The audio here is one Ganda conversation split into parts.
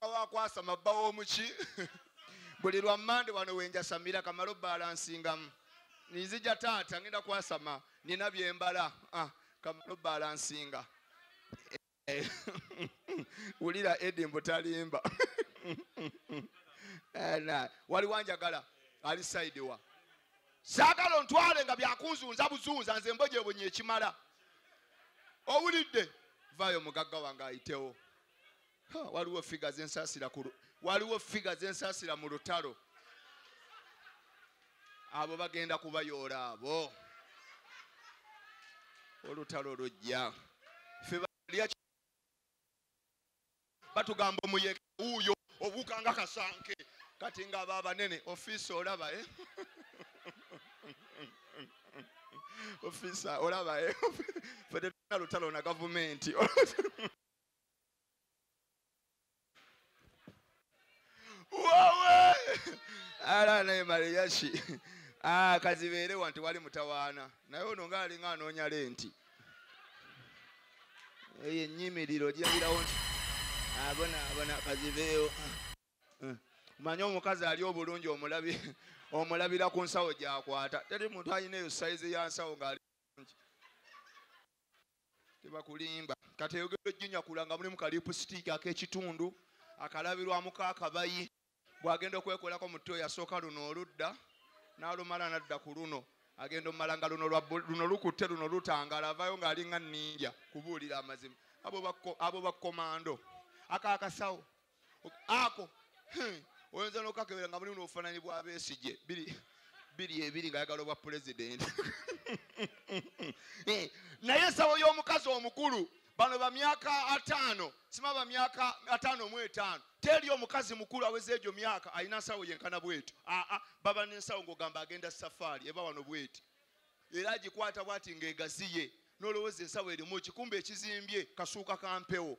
wakwasama bba w'omuki buli lwa mande wano wenjasamira kamala obbalansingamu nzija taata ngenda kwasama nina byembala ah, kamala obbalansinga eh, wulira edi mbutalimba eh, wali wanjagala ali saidi wa saagala ontwale nga byakunzunza buzunza nze mbojebonye ekimala owulidde vayo mugagga wange ayitewo waliwo figa zensasira waliwo figa zensasira mu lutalo abo bagenda kubayoola abo olutalo lujja batugamba omuyeke wuuyo obuuka nga kasanke kati nga aba abanene ofiisi olaba eh? ofiisa olaba eh? fe tetuna lutalo na gavumenti wowe ala naye mariyashi ah, kazibeere wanti wali mutawaana naye ono nga alinga anoonya lenti eyo enyimiriro ogirabirawo nti abona ah, abona kazibeewo ah, eh. manye omukazi ali obulungi omulabi omulabira ku nsawo gyakwata teri muntu alina eyo sayizi ya nsawo ngaali bulungi tebakulimba kati eyogera ojjinyakula nga mulimu kalipusitiiki ak'ekitundu akalabirwamuko akabayi bw'agenda okwekolako mu tto yasooka luno oludda n'alumala n'adda ku luno agenda omumala nga luno luno lukutte luno lutangala avaayo ng'alinga ninja kubuulira amazima abo bakkomando akaakasawo ako hmm. oyinza nokakebera nga muli nobufananyi bwa besigye biri biri ebiri nga yagala obwa pulezidenti eh, naye ensawo y'omukazi omukulu bano bamyaka ataano sima bamyaka ataano mu etaano teri omukazi mukulu aweza egyo myaka alina nsawo yenkana bwetyo aa baba nensawo ngaogamba agenda safaari eba wano bweti era agikwata bwati ngaegaziye nolowooza ensawo erimu kikumba ekizimbye kasuuka kampewo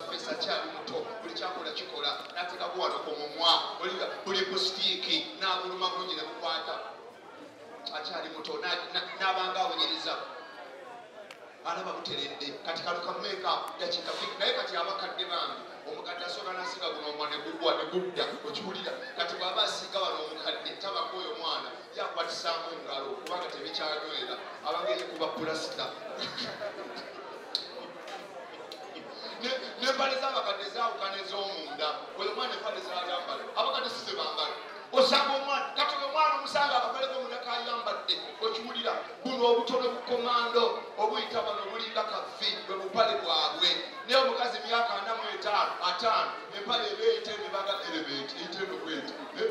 Professor Kyali Muto, buli kyakola kikola, nateka kuwano ku mumwa, oliga buli kusitiiki, nabuluma bungi ne bukwata. Akyali muto, nabanga awunyiriza. Alaba buteredde, kati kaluka meeka, dakika fik, naye kati abakadde bambi, omukadde asoka nasiga guno omwa ne gugwa ne gudda, okiwulira, kati bwaba asiga wano omukadde, taba kwoyo mwana, yakwatisamu engalo, kubanga tebikyanywera, abangeri kuba pulasita. nembale zabakadde zawukana ezomunda oyo omwana empale zayambala abakadde size bambala osanga omwana kati oyo omwana omusanga akakoleko omunda kayambadde okiwulira buno obutono bukomando obuyita bano obulinga kafi bwe bupale bwabwe naye omukazi emyaka anamu etaano ataano empale ebeeyita emibaga erebeti eyita enokweta eh?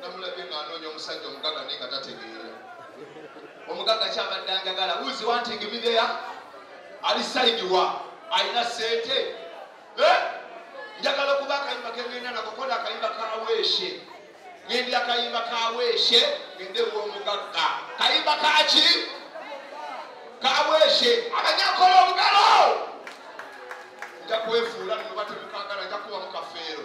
namulabye nga anoonya omusajja omugaga naye nga tategeera omugaga kyabadde angagala uzi wanting me there ali saidi wa alina sente eh? njagala okuba akayimba kengenda nakukola akayimba kaweeshe ngendi akayimba kaweeshe ngende womugagga kayimba kaki kaweeshe abanyakola omugalo nja kwefuula ninobatemukagala nja kubamu kafeero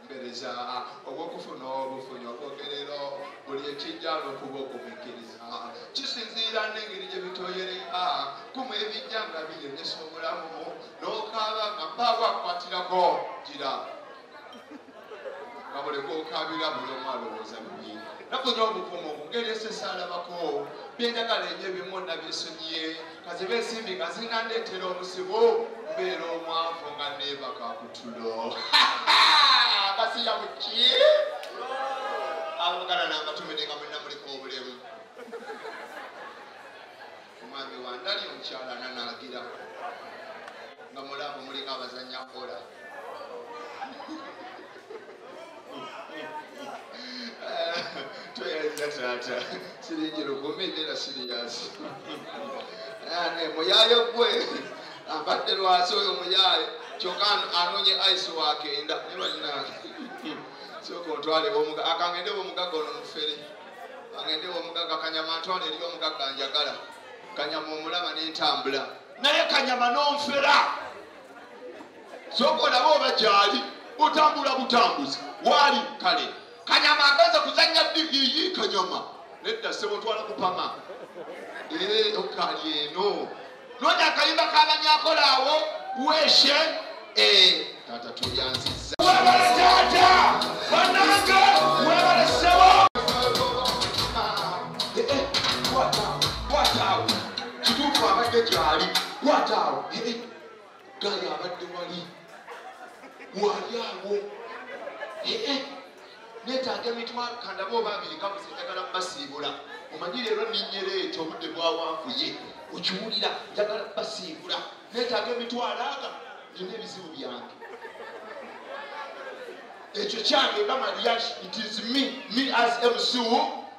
okunoonyereza obw'okufuna obufunyi okwogerero buli ekijja n'okuba okumikkiriza kisinziira n'engeri gye bitoyereka kumu ebijja nga biyemesa obulamu n'okaaba nga mpaawo akukwatirako gira nga buli kwokaabira buli omu alowooza bubi nakunya obuvumu ngeri esesaalabako byenjagala enyo ebimu nabyesonyiye kaziba ensimbi nga zinandeetera obuzibu mbeera omwavu nga neebaka kutulo basiya buki abagala nambatumide nga mulina muliko obulemu omwami wandali omukyala nanagira nga mulamu muliko abazanya kola toyaliza taata siringi lukumi nera siriyasi ane muyaye gwe abadde lwasi oyo muyaye kyoka anonye ice wake enda nebalina soka ontwale omuga akangende omugaga ono mufere angende omugaga kanyama ntwale eri omugaga njagala kanyama omulaba nentambula naye kanyama nomfera sooka olaba oba gyali otambula butambuzi waali kale kanyama agenze kuzanya digiyi kanyama nedda sebo twala kupama eh, okali eno nonya akayimba kabanyakola awo weshe eh, tata tulyanziza webale tata banange webale sebo eh, kwatawo kituufu abadde gyali kwatawo gala abadde wali wali awo netaaga emitima kandaba oba abiri kabuze njagala basiibula omanyi leero ninyera ekyo obudde bwawanvuye okiwulira njagala basiibula netaaga emitwalo aga nina ebizibu byange ekyo kyange nga mariage it is me me as mcu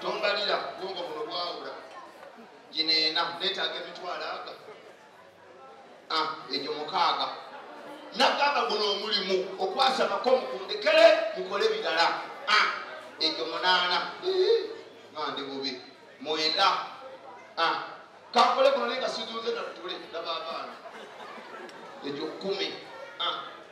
tombalira bwongo buno bwawula gineena netaaga emitwalo aga ah, egyo mukaaga nagamba guno omulimu okwasabako mukundekere mukole birala ah, egyo munaana mandi bubi mwenda ah, kakole guno naye nga sizunze natule nabaabaana egyo kumi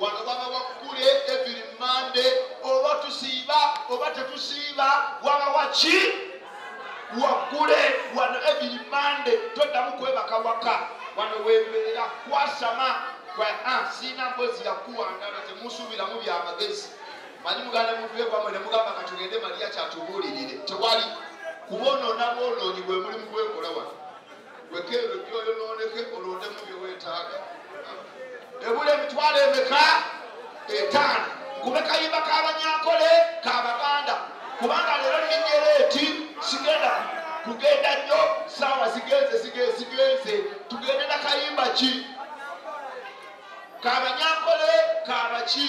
wano babawa kukula eviri mande oba tusiiba oba tetusiiba wabawa ki wakule wano eviri mande toddamu kwebaka waka wano wembeera kwasama ah, siina mbozi yakuwangana temusuubiramu byamagezi manyi muganda muvekwamwe nemugamba katugende maliya kyatubuulirire tewali kubonoona bwonoonyi bwemuli mukwekola wano wekere byoyo noneke olondemu byewetaaga ebula emitwalo emeka etaano kube kayimba kabanyankole kabaganda kubanga leero ninyera eti sigenda kugenda nnyo saawa zigenze zigenze tugende nakayimba ki kabanyankole kabaki